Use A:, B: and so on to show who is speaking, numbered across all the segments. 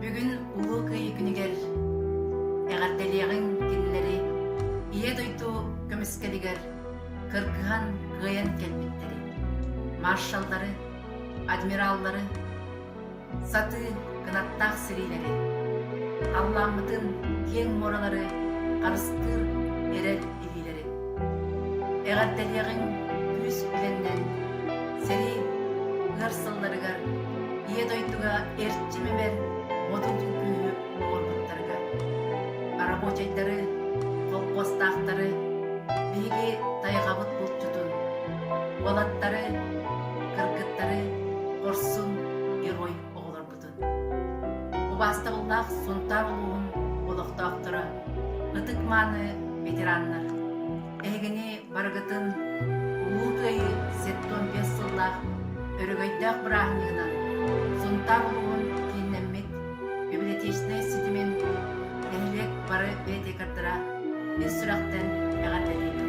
A: Бүгүн Улуу Кыайыы күнүгэр эҕэрдэлиэҕиҥ кинилэри Ийэ дойду көмүскэлигэр кыргыһан кыайан кэлбиттэри, маршаллары, адмираллары, сатыы кынаттаах сириилэри, халлааммытын киэҥ муоралары харыстыыр эрэл билэрэ. Эҕэрдэлиэҕиҥ күүс үлэннэр, сэрии ыар сылларыгар Ийэ дойдуга эрчим-имэр модун күҥкүһү оҥорбуттарыгар. Арабочайдары, холкуостаахтары, биһиги тайҕабыт булчутун, уолаттары, кыргыттары хорсун герой оҕолорбут. олохтоохпутун. Убаастабыллаах Сунтаар улууһун олохтоохторо, ытык-мааны ветераннар, эһигини барыгытын Улуу Кыайыы сэттуон биэс сыллаах өрөгөйдөөх бырааһынньыгынан Сунтаар улууһун кииннэммит библиотечнай ситимин нэһилиэк бары бэйэтикардара ис сүрэхтэн эҕэрдэлиибин.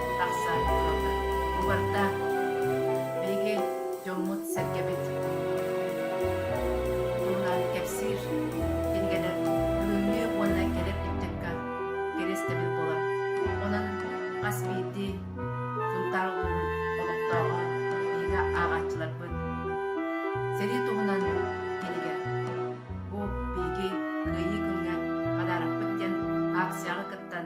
A: тахсар кыаллар. Бу барда. Биһиги дьоммут-сэргэбит дууһаларын кэпсиир, кинигэлэр бүгүҥҥү уонна кэлэр ыччакка кэриэстэбил буолар. Онон хас биирдии Сунтаар улууһун олохтооҕо биһиги ааҕааччыларбыт сэрии туһунан кинигэ. Бу биһиги Кыайыы күҥҥэ подаракпыт диэн аакцияҕа кыттан